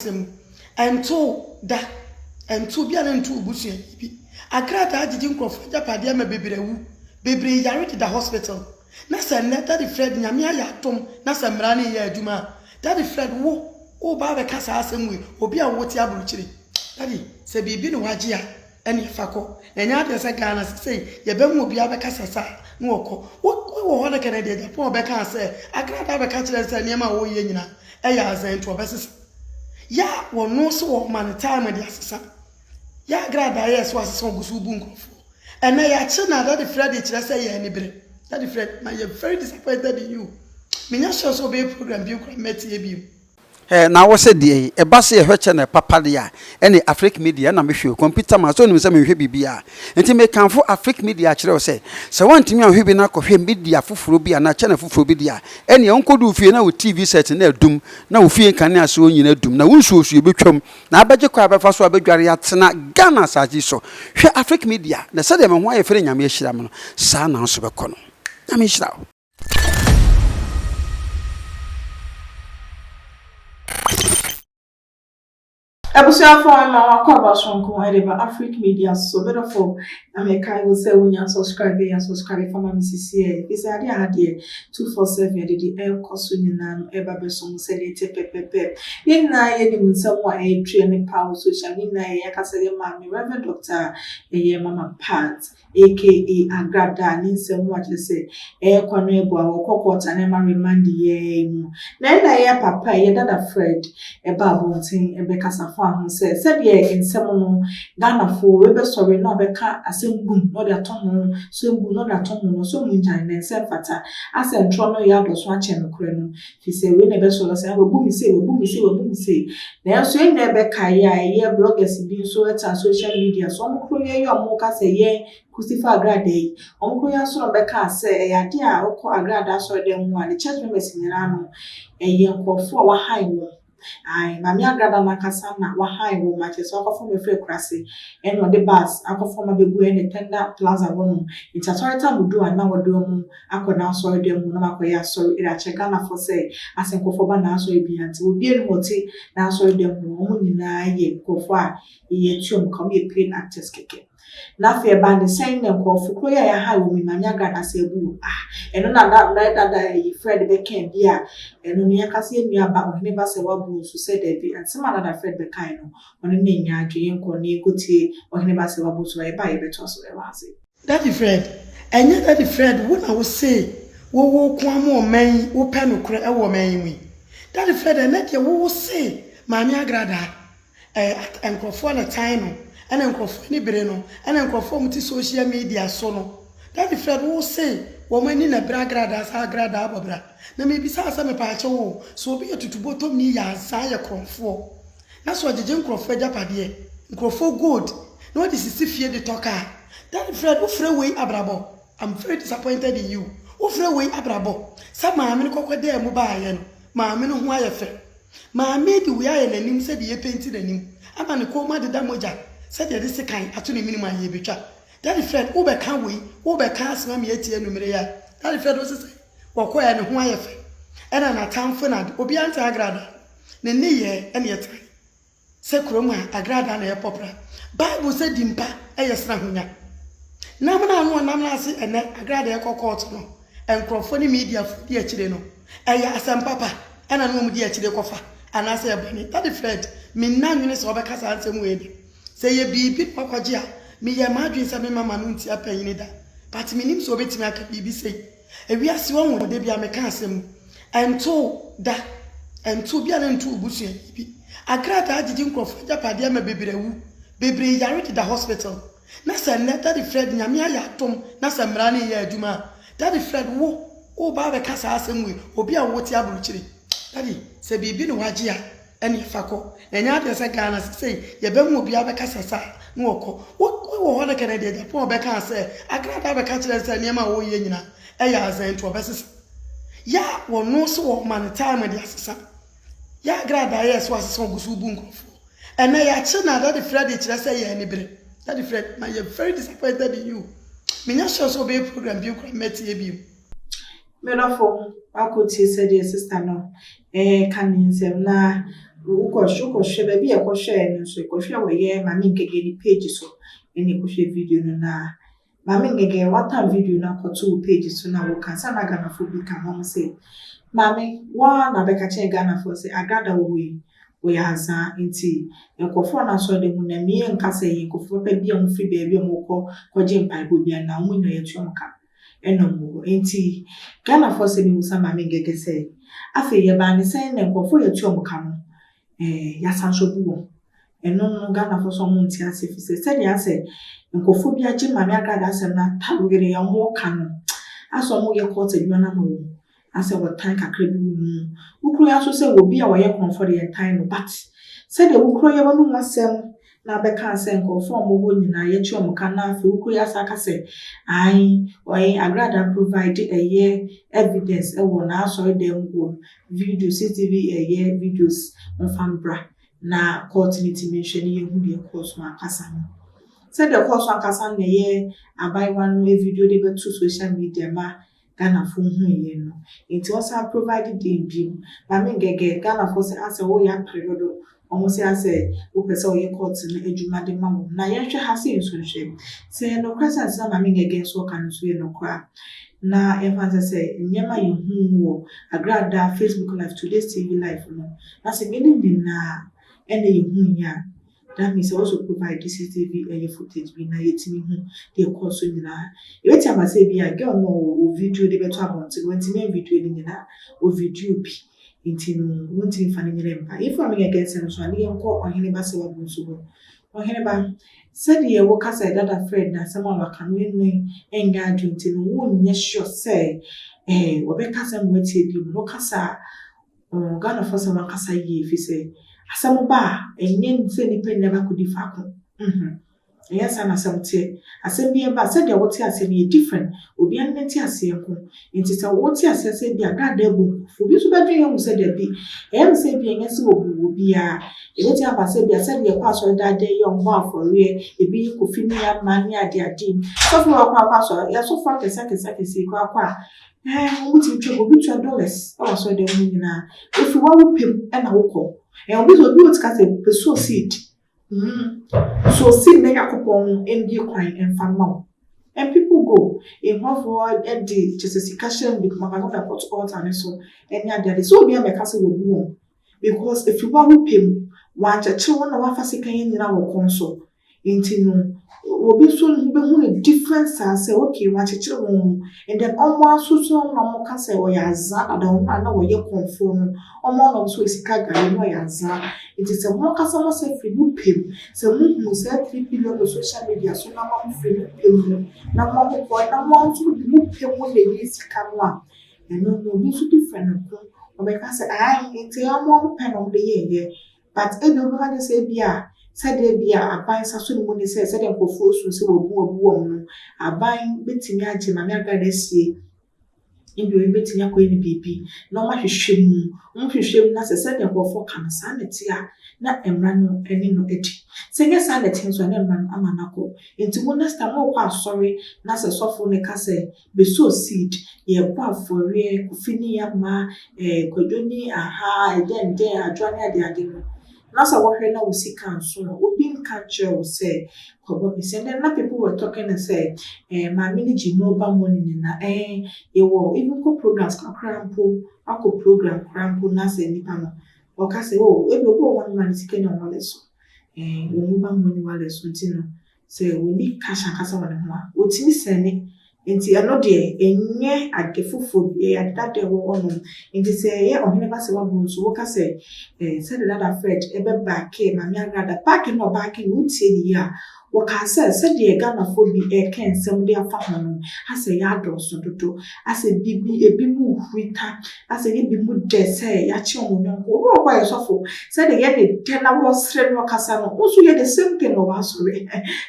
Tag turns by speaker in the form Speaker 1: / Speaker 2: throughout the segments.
Speaker 1: asɛm mu. Ɛntoo da, ɛntoo bi a na ɛnto obusuani bi. Akrataa agyegye nkurɔfoɔ agyapadeɛ ama bebree awu, bebree yare deda hospital. Na sɛ nnɛ Daddy Fred Nyame ayɛ adom na sɛ mmara no reyɛ adwuma a, Daddy Fred wo woreba abɛka saa asɛm wei, obi a wote aburokyire, Daddy sɛ biribi ne wagye a, Ɛneɛ fa kɔ na ɛnyɛ adeɛ sɛ Ghana sesei yɛbɛhu obiara bɛka sɛ sa na ɔkɔ wo wɔ hɔ no kɛ na ɛdeɛ Japan ɔbɛkaa sɛ Accra baa bɛka kyerɛ no sɛ nneɛma a ɔreyɛ nyina ɛyɛ aza nti ɔbɛsesa yɛ a wɔno nso wɔma no time de asesa yɛ agradaa yɛ so asesa ɔgu so bu nkurɔfoɔ ɛnɛ yɛakye na Daddy Freddy kyerɛ sɛ yɛ ani bere Daddy Freddy ma yɛ very disappointed in you menyɛ sure sɛ ɔbɛyɛ program bio koraa mɛtie bio. Eh, na wosɛ
Speaker 2: deɛ yi? Ɛba se yɛhwɛ channel papa de a, ɛne Afrique Media, ɛna mehwɛ o, computer man, sɛ wonim sɛ menhwɛ biribiara. Nti mekamfo Afrique Media akyerɛ wo sɛ, sɛ woantumi anhwɛ bi na kɔhwɛ media foforɔ bi anaa channel foforɔ bi de a, ɛneɛ wonkɔdu wo fie na wo TV set no adum, na wo fie nkanea soɔ nyina adum, na wo nsuo soɔ bɛtwam, na abɛgye kwan a bɛfa so abɛdware atena Ghana asase yi so. Hwɛ Afrique Media, na sɛdeɛ me ho ayɛ fɛ na Nyame ahyira me no, saa na wo nso bɛkɔ no. Nyame nhyira wo.
Speaker 3: abusuafo a ma wakɔ abasonko ɛde ba afric media so bɛdɔfo na mɛkae wo sɛ wonya subscribe yɛ subscribe fama me sisi ɛ ɛfiri sɛ adeɛ aha deɛ 247 ɛde de ɛrekɔ so nyinaa no ɛba bɛso mu sɛdeɛ ɛte pɛpɛpɛ yɛn nyinaa yɛnim nsɛm a ɛretweɛ ne paw social ne nyinaa yɛyɛ akasa yɛ maame reverend doctor ɛyɛ mama part aka Agrada ne nsɛm mu akyerɛ sɛ ɛyɛ kwa no ɛbɔ a wɔkɔ court a na ɛma remand yɛɛ mu na ɛna ɛyɛ papa ɛyɛ dada Fred ɛba abɔnten ɛbɛkasa faa ho sɛ sɛdeɛ nsɛm no Ghana foɔ rebɛsɔre na ɔbɛka asɛm bum na ɔde atɔ ho sɛm bum na ɔde atɔ ho no so ɔmongyae na ɛnsɛ ɛmfata asɛntrɔ no yɛ adɔso akyɛn nokorɛ no Efisɛ wei na ɛbɛso no sɛ, 'Ah, wɔabu me sei, wɔabu me sei, wɔabu me sei. Nanso yɛn nyinaa bɛkae a ɛyɛ bloggers bi nso tra social media so, wɔn koro yɛ yi a wɔka sɛ yɛn Christopher Agradaa yi, wɔn koro yɛ asɔre a wɔbɛka sɛ ɛyɛ ade a ɔkɔ Agradaa asɔredan mu a ne church members nyinaa no, ɛyɛ nkurɔfo a wɔahan wɔn. Ae Maame Agraba no ankasa na wahae wo ma kyerɛ sɛ ɔkɔfom me firi akuraase ɛna ɔde bus akɔfom me abegu ɛne Tenda Plaza hɔ nom nti asɔre tam odu a na ɔde ɔmo akɔ n'asɔre dɛm hɔ nom akɔyɛ asɔre ɛde akyerɛ Ghana foɔ sɛ asɛ nkorɔfoɔ ba n'asɔre bia nti obia nim ɔte n'asɔre dɛm hɔ ɔmo nyinaa yɛ nkorɔfoɔ a yɛtua ɔmo ka ɔmo yɛ paid actors kɛkɛ. Na afei ɛbaa ne sɛn na nkurɔfo koro yi a yɛahae wɔn yi, Manya Ghana ase abu wɔn. Ah, ɛno na da, mmerɛ dada a yi Fred bɛkɛɛ bi a, ɛno no, yɛka sɛ yɛn nua ba, Ohene ba sɛ wabu nso sɛ dabi. Nsɛm a na da Fred bɛkae no, ɔno na ɛnyaa adwene. Yɛnkɔ na yɛnkɔ tie Ohene ba sɛ wabu nso na yɛba a yɛbɛtoa so wɔ ase. Daddy Fred,
Speaker 1: Ɛnyɛ Daddy Fred wo na wose wo wo ko ara mo ɔman yi wo pɛ nokorɛ wɔ ɔman yi mu yi? Daddy Fred, Ɛnɛ deɛ wo wo se Maame Agradaa. Ɛɛ nkurɔfoɔ na tan no ɛna nkurɔfoɔ ani bere no ɛna nkurɔfoɔ a wɔte social media so no Daddy Fred wo se wɔn ani na bere agradaa saa agradaa abɔ bra na mebisa wo sɛ mepaakyɛ wo sɛ obi yɛ tutubɔtɔmni yɛ ansaa yɛ korɔmfoɔ na sɛ ɔgyegye nkurɔfoɔ agyapadeɛ nkurɔfoɔ gold na ɔde sisi fie de tɔ car Daddy Fred wo frɛ wei abrabɔ? I'm very disappointed in you wofrɛ wei abrabɔ? Sɛ maame no kɔkɔ daa mu baeɛ no maame no ho ayɛ fɛ maame yi de wei ayɛ n'anim sɛdeɛ yɛpenti n'anim ama ne kɔn mu adeda mogya sɛdeɛ yɛde sekan ato ne menem ayɛ bɛtwa Daddy Fred wobɛka wei wobɛka asɛm ama yɛatie anumere yi a Daddy Fred ose sɛ wɔkɔɛ ne ho ayɛ fɛ ɛna n'atamfo na ade obiara nte agradaa no ne nneyɛɛ ɛne ɛtrae. Sɛ kurom a, agrada na ɛpɔ pra. Bible sɛ di mpa yɛ sen ahonya. Nam no ano ɔnam no ase ɛnɛ, agrada ɛkɔ kɔɔto no, nkurɔfoɔ ne mediafoɔ di akyire no. Ɛyɛ asɛm papa ɛna ne wɔn di akyire kɔfa anaa sɛ ɛbɔne? Daddy Fred, me nna nwene sɛ wobɛka saa nsɛm wei da. Sɛ ɛyɛ biribi na wakɔgye a, me yɛɛ m'adwene sɛ me mma ma no ntia panyini da. But me nim sɛ obɛtumi aka biribi sei. Ewiase wahu no da bi a meka asɛm mu. Ɛntoo da. Ɛntoo bi a na ɛntoo obusuani bi. Akrataa agyegye nkurɔfoɔ agyapadeɛ ama bebree awu. Bebree yare deda hospital. Na sɛ nnɛ Daddy Fred Nyame ayɛ adom na sɛ mmara no reyɛ adwuma a, Daddy Fred wo woreba abɛka saa asɛm wei obi a wote abrokyire. Daddy sɛ biribi ne wagye a Ɛneɛ fa kɔ na ɛnyɛ adeɛ sɛ Ghana sesei yɛbɛhu obiara bɛka sɛ sa na ɔkɔ wo wɔ hɔ no kɛ na ɛdeɛ Japan ɔbɛkaa sɛ Accra baa bɛka kyerɛ no sɛ nneɛma a ɔreyɛ nyina ɛyɛ aza nti ɔbɛsesa yɛ a wɔno nso wɔma no time de asesa yɛ agradaa yɛ so asesa ɔgu so bu nkurɔfoɔ ɛnɛ yɛakye na Daddy Freddy kyerɛ sɛ yɛ ani bere Daddy Freddy ma yɛ very disappointed in you menyɛ sure sɛ ɔbɛyɛ program bio koraa mɛtie bio. Me
Speaker 3: dɔfo, woakotie sɛdeɛ sista no reka ne nsɛm na wokɔhwɛ wokɔhwɛ baabi a ɛkɔhwɛɛ no nso ɛkɔhwɛ wɔ yɛ maame nkɛgɛ ne page so ɛna ɛkɔhwɛ video no na maame nkɛgɛ woatan video no akɔto wo page so na woka sɛ na ghanafoɔ bi ka ho mo sɛ maame woa na bɛka kyɛn ghanafoɔ sɛ agrada wɔ hɔ yi wɔyɛ azaa nti nkurɔfoɔ no asɔ de mu na mmie nka sɛ yɛ nkurɔfoɔ papa bi a wɔfiri baabi a wɔkɔ kɔgye mpaebɔ bi anaa wɔn nyinaa yɛtua wɔn ka Ɛna ɔmo hɔ nti Ghanafoɔ sɛ memu sa Maame Ngege sɛ afei yɛbaa ne sɛn na nkorɔfoɔ yɛtu ɔmo ka no ɛɛ yasan so bu wɔn ɛno no Ghanafoɔ sɛ ɔmo nte aseɛ firi sɛ sɛdeɛ asɛ nkorɔfoɔ bi agye Maame Agrada asɛm no atawere a ɔmo ka no asɛ ɔmo yɛ court adwuma no ama wɔn Na sɛ wɔtan kakra bi wɔ mu. Wo kuro ya nso sɛ obi a ɔyɛ korɔmfoɔ de yɛntan no but sɛdeɛ wo kuro ya w'anom asɛm na bɛkaa sɛ nkorɔfoɔ a wɔwɔ hɔ nyinaa yɛtua wɔn ka na afei wo kuro ya saa ka sɛ ae ɔe agradaa provide ɛyɛ evidence ɛwɔ n'asɔre dan mu hɔ video CCTV ɛyɛ videos wɔmfa mbra na court no tumi nhwɛ ne yɛhu deɛ ɛkɔɔ so ankasa no sɛdeɛ ɛkɔɔ so ankasa no na ɛyɛ abaayewa no video de bɛto social media ma Ghanafoɔ hu yie no nti ɔsan provide dee biom na me gɛgɛ Ghanafoɔ sɛ asɛ wo yɛ apere dodo ɔmo sɛ asɛ wo pɛ sɛ ɔyɛ court no adwuma de ma wɔn na yɛn hwɛ ha sɛ nso nhwɛ sɛ yɛ nokorɛ sɛ nsɛm a maame gɛgɛ nso ɔka no nso yɛ nokorɛ a na yɛn fa nsɛ sɛ nneɛma yɛ hu wɔ agradaa facebook life today's tv life no na sɛ yɛ ne nyinaa ɛna yɛ hu yɛ a That means sɛ wɔsɔ provide CCTV ɛyɛ footage bi na yɛtumi hu deɛ ɛkɔɔ so nyinaa. Yɛbɛtumi aba sɛ ebia girl no ɔwɔ ɔwɔ video de bɛto abɔnten, wantumi anvideo ne nyinaa, ɔvideo bi nti no wontumi mfa ne nyinaa mma. If I'm making against no so a ne yɛnkɔ ɔhene ba sɛ wabɔ nso ho. Ɔhene ba, sɛdeɛ woka sɛ dada Fred na asɛm a waka no ɛno ɛnyɛ adwene nti no wonyɛ sure sɛ eh, wɔbɛka sɛ mmoatie bi mu no woka saa Ɔɔ Ghanafoɔ sɛ wɔakasa yie fisɛ asɛm ba a ɛnyɛ sɛ nnipa nyinaa bɛakɔdi faako mhmm ɛnyɛ saa na asɛm teɛ asɛm biara ba a sɛdeɛ wote aseɛ no yɛ different obiara ne nteaseɛ nko nti sɛ wote aseɛ sɛ bi a dada abu nkurɔfoɔ bi nso bɛdwene ahu sɛ dabi ɛyɛ me sɛ bi a ɛnyɛ sɛ wɔbu wɔ biara ɛbɛtumi aba sɛ bi a sɛdeɛ yɛkɔ asɔre daa daa yi a wɔbɔ afɔreɛ ebi yɛ kofi ne yɛ ama ne adeade sɔfo wakɔ akɔ asɔre yɛasɔfo akɛse akɛse akɛse yi kɔ akɔ a Ɛɛ wɔn ti twa obi twa dollars ɛwɔ asɔre dɛm mu nyinaa efi wɔn awo pɛm ɛna wokɔ ɛɛ obi sɛ obi wɔ tika sɛ pɛ so seed mm so seed na yako pɔn mu ɛnbie kwan ɛnfa ma wo and people go nkurɔfoɔ ɛde kyɛ sɛ sika hyɛ mu bi kuma kasa na ɛkɔto altar ne so ɛne ade ade sɛ obi ama ɛka sɛ wɔbu wɔn because efi wɔn awo pɛm wɔn akyɛkyɛ wɔn na wɔn afa sika yɛn nyinaa wɔ kɔn so. Enti no obi so no bɛhu no different saa sɛ okay wɔakyekyere wɔn mu and then wɔn ara nso so wɔn na wɔka sɛ ɔyɛ azaa dada wɔn a na wɔyɛ kɔmfoɔ no wɔn ara na wɔn nso wɔ sika gari na ɔyɛ azaa nti sɛ wɔn ankasa wɔn sɛ firi mo pɛ mu sɛ mo hunu saa three billion wɔ social media so na mo mo firi mo pɛ mu na mo mo kɔ na mo nso de mo pɛ mu na ɛyɛ sika no a ɛno no obi nso different no ko ɔbɛka sɛ ae nti wɔn a wɔpɛ na wɔde yɛɛyɛ But ebia ɔbɛka akyerɛ sɛ ebia sɛdeɛ ebia aban nsaso no mu ne sɛ sɛdeɛ nkurɔfoɔ suu sɛ wɔabu wɔabu wɔn no, aban bɛtumi agye Maame Agradaa asie ebia ɔno bɛtumi akɔyɛ no biribi na wɔahwehwɛ mu. Wɔhwehwɛ mu na sɛ sɛdeɛ nkurɔfoɔ ka no saa na ɛte a, na mmara no ne no adi. Sɛ ɛnyɛ saa na ɛte nso a, na mmara no ama no akɔ. Enti mo next time morekɔ asɔre na sɛ sɔfo no ka sɛ bɛsɔ seed, yɛbɔ afɔreɛ, Kofi ne Yama, eh, Kwadwo ne aha, dɛndɛn, Adwoa ne adeade no, na sɛ wohwɛ na wo sika nso a, obi nka nkyerɛ wo sɛ kɔbɔ me sika. And na people were talking and sɛ, eh, maame no gye mobile money ne na, eh, yɛwɔ even kɔ programs kakra mpo, akɔ program koraa mpo na sɛ nipa no, ɔka sɛ, oh, ebi obi wɔ hɔ no ma ne sika nya wallet so, eh, wɔ mobile money wallet so nti no, Sɛ obi kasa kasa wɔ ne ho a, otumi sɛne. Enti ɛno deɛ, ɛnyɛ ade foforɔ bi, ɛyɛ ade dada a ɛwɔ hɔ nom. Enti sɛ ɛyɛ Ɔhene Basawa Bro nso, woka sɛ, eh, sɛdeɛ Dada Fred bɛbaakee Maame Agrada, baake na ɔbaakee no, wotie no yie a, wɔkaa sɛ, sɛdeɛ Ghanafoɔ bi reka nsɛm de afa ho nom, asɛ yɛadɔɔso dodo. Asɛ bi bi ebinom huri ka, asɛ yɛ binom dɛ sɛ yɛakyɛ wɔn yɔnko. Obi wɔ hɔ a yɛ sɔfo, sɛdeɛ yɛ ne dɛ na wɔsere no kasa no, wo nso yɛ the same thing wɔ w'asɔre.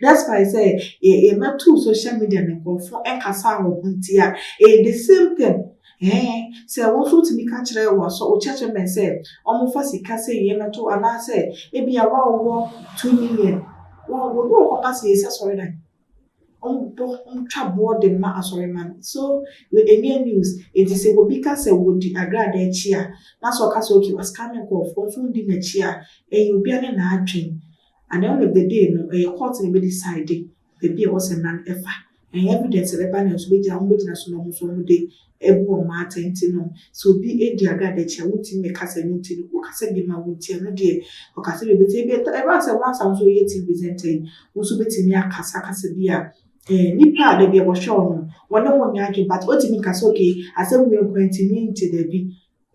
Speaker 3: Despite sɛ yɛ yɛ mɛto social media no nkorɔfo nkasa wɔ ho nti a, ɛyɛ the same thing. Ɛɛ, sɛ wo nso wotumi ka kyerɛ w'asɔ wo church members sɛ wɔmfa sika sei mmɛto anaasɛ ebia wo a wowɔ two million, wo wo ne wɔkɔpa seesei asɔredan. ɔbɔ ɔtwa boɔ de ma asɔremma no so ɛnyɛ news eti sɛ obi ka sɛ wɔdi agrada akyi a na sɛ ɔka sɛ okay wascam nkurɔfoɔ nso ndi n'akyi a ɛyɛ obia ne n'adwen at the end of the day no ɛyɛ court na ɛbɛ decide baabi a ɛwɔ sɛ mmara no ɛfa ɛyɛ evidence a ɛbɛba na nso bɛgyina wɔn bɛgyina so na wɔn nso wɔn de Ebu wɔn atɛn nti no, sɛ obi di agradekyɛ a, wontumi mmɛka sɛ ɛno nti no ɔkasa bi ma wo nti, ɛno deɛ ɔkasa bi a ɛbɛti. Ebia ɛtɔ, ɛba sɛ once a wo nso woyɛ TV presenter yi, wo nso wobɛtumi akasa kasa bi a eh, nipa a dabi a wɔhwɛ wo no, wɔne wo nyɛ adwene, but wontumi nka sɛ okay, asɛm wei nko ara nti, menti, dabi.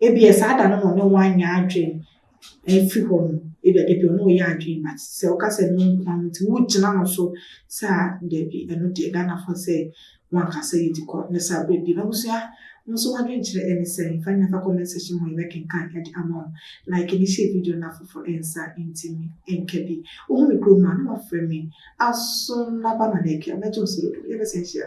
Speaker 3: Ebia saa da no na ɔne wo anyɛ adwene afiri hɔ no, ebia da bi ɔne wo yɛ adwene but sɛ woka sɛ no nko ara nti wogyina no so sɛ a dabi ɛno deɛ Ghanafoɔ sɛ wankasa yɛdi kɔ ne saa berɛ bi m'abusua mo nso m'adwenkyerɛ ɛne sɛ mfa nyina fa comment section hɔ yɛbɛkenkan ɛde ama wo like ne hyɛ video no afoforɔ ɛnsa ntimi ɛnka bi wohu me kurom a na wafrɛ me aso naba na na ɛkɛ mɛgye wo sɛ dodo yɛbɛsɛ nhyia